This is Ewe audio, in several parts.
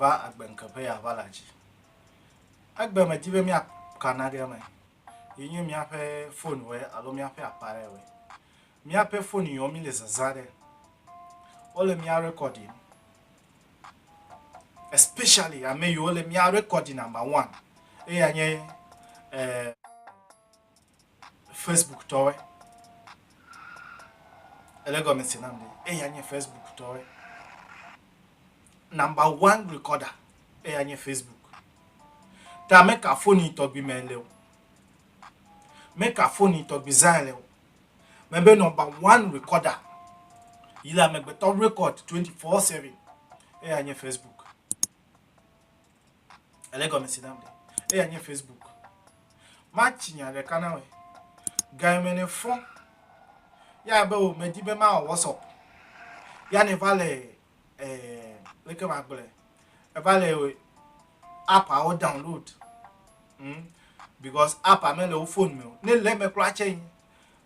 va agbe ŋke ƒe ya va la dzi. Agbe me di be mía kana ɖe me. Yi nye mía ƒe fone wɔ alo mía ƒe apare wɔ. Míaƒe foniwo mele zazã ɖe. Wole mía rekɔdim. Especially ame yiwo le mía rekɔdi number one. Eya nye eh, Facebook tɔwe. Ele gɔme se nam ɖe. Eya nye Facebook tɔwe. Number one recorder. Eya nye Facebook. Ta meka foni tɔgbi me le o. Meka foni tɔgbi zã le o. Mebe nɔmba one rekɔda yi le amegbetɔ rekɔd 24/7 eya nye Facebook. Ele gɔmesi nam ɖe eya nye Facebook. Matsi nya ɖeka na wɔ gayeme ne fɔ ya be wò medi be ma wɔ WhatsApp ya ne va le Eh, leke ma gblɔe? Eva le app awo download. Hmm? Because app a mele wo phone me o. Ne le me kura tse yi.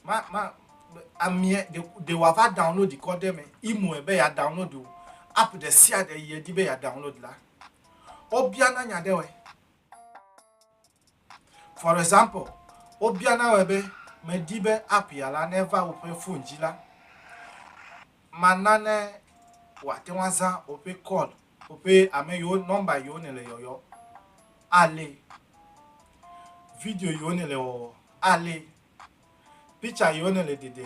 Ma ma amie de de wa va download kɔ de me. Imo be ya download o. App de sia de ye di be ya download la. Obia na nya de we. For example, wobiana wòe be, Medi be app ya la neva woƒe fon dzi la, mana ne wòate ŋu azã woƒe call, woƒe ame yiwo, nɔmba yiwo nèle yɔyɔ, alée. Video yiwo nèle wɔwɔ, alée. Picture yiwo nèle dede,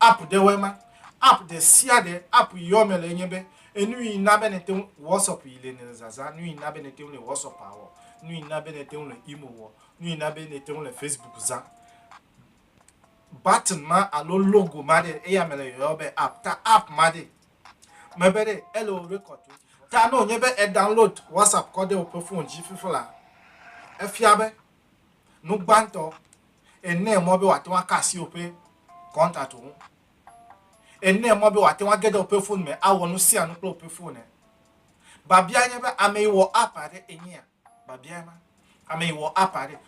App ɖewoe ma. App ɖe sia ɖe app yi yɔ me le enye be enu yi na be nete ŋu WhatsApp yi le nɛ le zazã, nu yi na be nete ŋu le WhatsApp awɔ, nu yi na be nete ŋu le Imo wɔ, nu yi na be nete ŋu le Facebook zã. Button ma alo logo ma ɖe eya me le yɔyɔ be app. Ta app ma ɖe mebe ɖe ele wò record to. Ta ne wònye be e download WhatsApp kɔ ɖe woƒe phone dzi fiflaa, efia be. Nu gbãtɔ, enɛ mɔ be wòate ŋu aka asi woƒe kɔntatwo ŋu. Enɛ mɔ be wòate ŋu age ɖe woƒe fon me awɔ nu sia nu kple woƒe fon. Biabia nye be ame yi wɔ app aɖe enyea? Biabia ma. Ame yi wɔ app aɖe.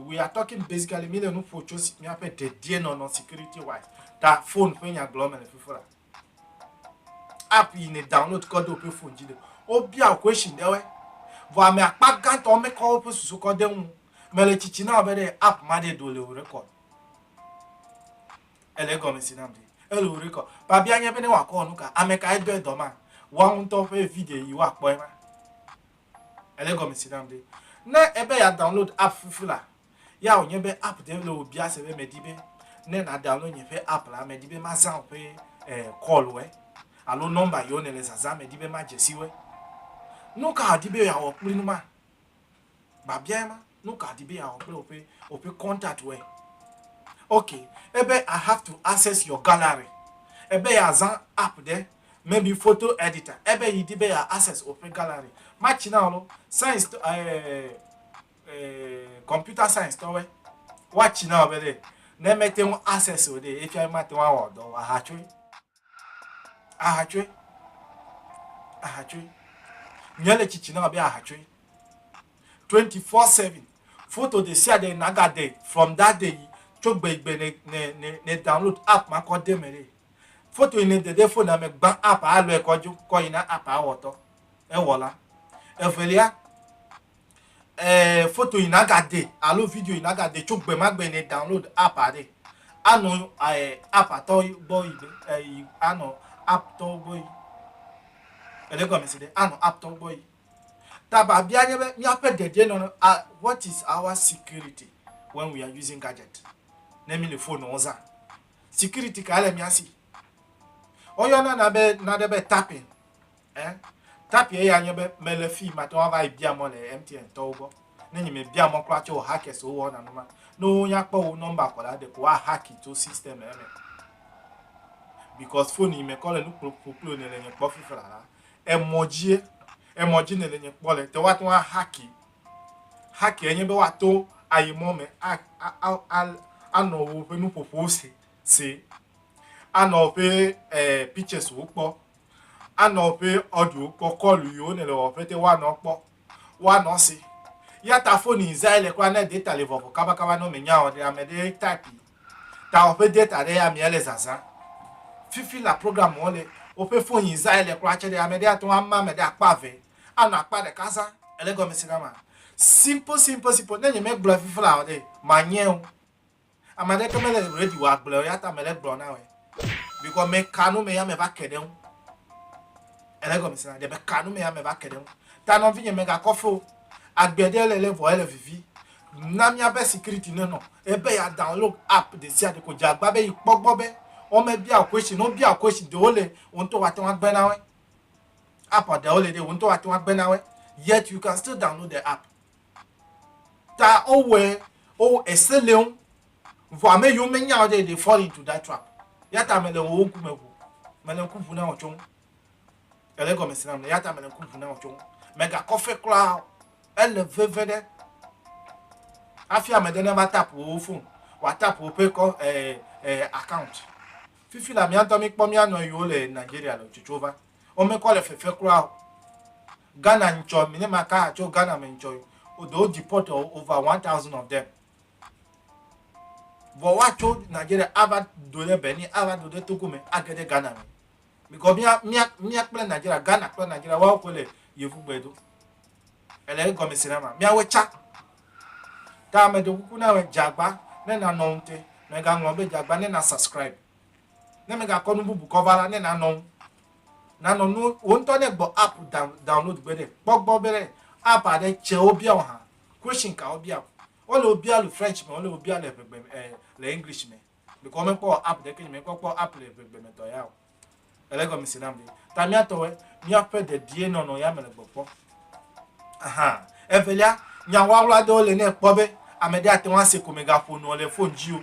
We are talking basically, míle nu ƒo tso míaƒe dedienɔnɔ security wise ta fon ƒe nyagblɔ me le fifo la. App yi ne download kɔ do ƒe phone dzi ɖe wo bia wo question ɖe woe. Vɔ ame akpa gãtɔ me kɔ woƒe susu kɔ de ŋu. Me le tsitsi na wo be ɖe app ma ɖe ɖo le wo record. Ele egɔme si nam ɖe. Ele wo record. Babia nye be ne wa kɔ wɔ nuka? Ame ka edɔ edɔ ma? Woawo ŋutɔ ƒe video yi wa kpɔ ema. Ele egɔme si nam ɖe. Ne ebe ya download app fufu la. Ya wònye be app ɖe le wò biase be mèdi be ne nàdownload nye ƒe app la, mèdi be mazã wò ƒe eh, call wɔe alo nɔmba yiwo nèle zazã mèdi be madze si wɔe. Nu ka wòdi be yeawɔ kpli nu ma? Biabiae ma. Nu ka wòdi be yeawɔ kple woƒe woƒe contact wɔe? Ok, ebe I have to access your gallery. Ebe yeazã app ɖe, maybe photo editor, ebe yi di be yeaccess woƒe gallery. Matsi na wò lo, science to eh, computer science tɔwɛ woatsi na ɔbɛ ɖe ne mete ŋu access o ɖe efia mate ŋu awɔ dɔ o ahatsoe ahatsoe ahatsoe nye le tsitsi na ɔbɛ ahatsoe 24/7 foto de sia de naga de from that day yi tso gbe gbe ne ne ne ne download app ma kɔ de me ɖe foto yi ne de de fone me gbã app alɔe kɔ dzo kɔ yi na app awɔtɔ ewɔla evelia eh, foto yi nagade alo video yi nagade tso gbe ma gbe ne download app aɖe anɔ eh, app atɔ gbɔ yi be eh, anɔ app tɔ gbɔ yi ele gɔme si ɖe anɔ app tɔ gbɔ yi ta babia nye be míaƒe dedie nɔ ah, what is our security when we are using gadget ne mi le phone wo zã security ka le mia si woyɔna na be na ɖe be tapping Ɛ? Tapie ya nye be mele fii mate ŋu ava yi bia mɔ le MTN tɔwo gbɔ. Ne nye me bia mɔ kura tso o hackers wo wɔna nu ma. Ne wo nya kpɔ wo number kɔ la ɖeko wa hacki tso system ɛ me. Because phone yi me kɔ le nu kplokplokplo ne le nye kpɔ fifi la la emɔ dzie emɔ dzi ne le nye kpɔ le te wa te ŋu a hacki. Hacki enye be wa to ayi mɔ me a a a a a nɔ wo ƒe nuƒoƒo se se. A nɔ wo ƒe eh pictures wo kpɔ anɔ ƒe ɔɖu kɔkɔlu yiwo ne le wɔ ƒete wa nɔ kpɔ wa nɔ se ya ta foni izai le kura ne data le vɔvɔ kaba kaba nɔ me nya ɔ ɖe ame ɖe type ta wɔ ƒe data ɖe ya mia le zaza fifi la program wɔ le woƒe foni izai le kura tse ɖe ame ɖe ya tɔn ama ame ɖe akpa ve anɔ akpa ɖe kaza ele gɔme si na ma simple simple simple ne nye me gblɔ fifi la ɔ ɖe ma nyɛo. Ame aɖeke mele ready wɔ agble o, ya ta mele gblɔ na wòe. Because me ka nu me ya me va ke ɖe ŋu. Ele gɔme se na de me ka nu me ya me va ke ɖe ŋu. Ta nɔvinye me gakɔ fe o. Agbe ɖe le le vɔ ele vivi. Na míaƒe security ne nɔ ebe ya download app ɖe sia ɖe ko dze agba be yi kpɔ gbɔ be wome bia wò question. Ne wobia wò question ɖewo le wò ŋutɔ wate ŋu agbe na woe. App ɖewo le ɖe wò ŋutɔ wate ŋu agbe na woe. Yet you can still download the app. ta wowɔe wo ese le wo vɔ ame yiwo menya o ɖe they fall into that trap ya ta mele wo ŋkume ʋu mele ŋku ʋu na wo tso ŋu ele gɔme si na mele ya ta mele ŋku ʋu na wo tso ŋu megakɔ fe kura o ele veve ɖe hafi ame ɖe ne va tap wo phone wòa tap woƒe kɔ eh, eh, account fifi la míatɔ míkpɔ míanɔ yiwo le nigeria le tsotso va womekɔ le fefe kura o Ghana ntsɔ mi ne ma ka tso Ghana me ntsɔ yi o do deport ɔ over one thousand of them vɔ wa tso Nigeria a va do ɖe Benin a va do ɖe Togo me a ge ɖe Ghana me because mia mia mia kple Nigeria Ghana kple Nigeria wa wo koe le yevu gbe do ele ye gɔme se na ma mia we tsa ta me do kuku na me djagba ne na nɔ ŋte me ga ŋlɔ be djagba ne na subscribe. Ne mègakɔ nu bubu kɔ va la, ne nànɔ ŋu. Nànɔ nu wò ŋutɔ ne gbɔ app down, download gbe ɖe. Kpɔ gbɔ be ɖe app aɖe tsɛ wobia wò hã. Question ka wobia wò? Wole wò bia le French me, wole wò bia le eŋegbe me ɛɛ le English me. Ɖeko womekpɔ wɔ app ɖeke, nye mekpɔ kpɔ app le eŋegbe me tɔ ya o. Ele egɔme se nam ɖe. Ta mía tɔwɔe, míaƒe dedienɔnɔ ya mele gbɔ kpɔ. Aha. Evelia, nya wlawla aɖewo le ne èkpɔ be ame ɖe ate ŋu ase ko mègaƒo nuɔ le fon dzi o.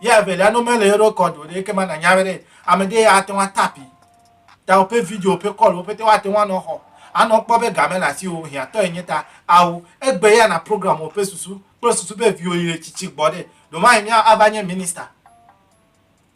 Ya evelia no mele yo rekɔd o ɖe eke ma nanya be ɖe ame ɖe ya ate ŋu atapi ta woƒe video woƒe kɔl wo pete woate ŋu anɔ xɔ anɔ kpɔ be game le asi wo hiãtɔ enye ta ao egbe ya na program woƒe susu kple susu be viwo yi le tsitsi gbɔ ɖe ɖo ma yi mia ava nye minista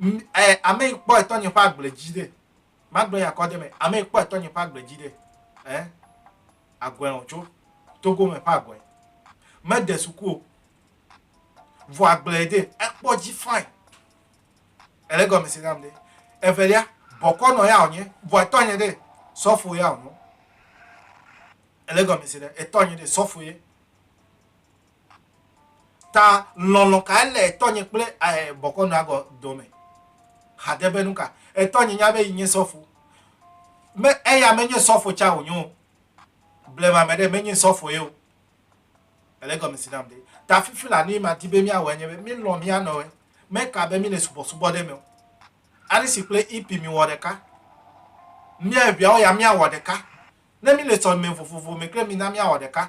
M, ɛ, ame yi kpɔe tɔnye ƒe agble dzi ɖe. Magblɔ nya kɔ de me. Ame yi kpɔe tɔnye ƒe agble dzi ɖe. Ɛ, agɔe wòtso. Togo me ƒe agɔe. Mede suku o. Vɔ agblee de. Ekpɔ dzi fãi. Ele egɔme se nam ɖe. Evelia, bɔkɔnɔ ya wònye. Vɔ etɔnye ɖe, sɔfo ya wònye. Ele egɔme se ɖe. Etɔnye ɖe, sɔfo ye. Ta lɔlɔ kae le etɔnye kple eh, bɔkɔnɔa gɔ dome? Hade be nuka? Etɔnye nya be yi nye sɔfo. Me, eya menye sɔfo tsa wonyo o. Blema me ɖe, menye sɔfo ye o. Ele gɔme si nam ɖe. Ta fifi la, nuyi madi be miawɔe nye be, mi lɔ mia nɔwe. Meka be mi le subɔsubɔ ɖe me o. Alisi kple hippie mi wɔ ɖeka. Mia eʋeawo ya mia wɔ ɖeka. Ne mi le sɔlime vovovo me kple mi na mia wɔ ɖeka.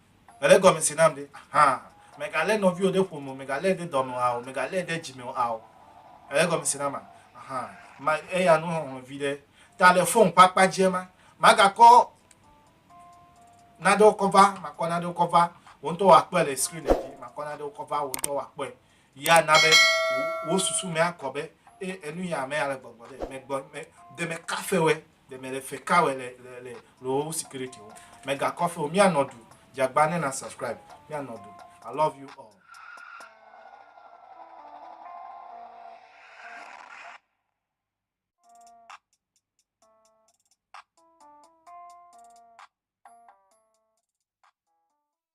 Èle gɔme se nam ɖe? Axa! Mègalé nɔviwò ɖe ƒome o, mègalée ɖe dɔme o ao, mègalée ɖe dzime o ao. Èle gɔme se nam a? Axa! Ma eya nu hɔhlɔ̃ viɖe. Ta le fon ƒe akpa dzia ma, magakɔ nanewo kɔ va, makɔ nanewo kɔ va, wò ŋutɔ wòakpɔe le screen dzi, makɔ nanewo kɔ va, wò ŋutɔ wòakpɔe. Yi ana be wò susu me akɔ be, E, enu ya ame ya le gbɔgbɔ ɖe, megbɔ, me, de mekafe wɔe. Ɖe mele fe ka wɛ le le le lowo security wo. Mega kɔ fe o mia nɔ du. Jagba ne na subscribe mia nɔ du. I love you all.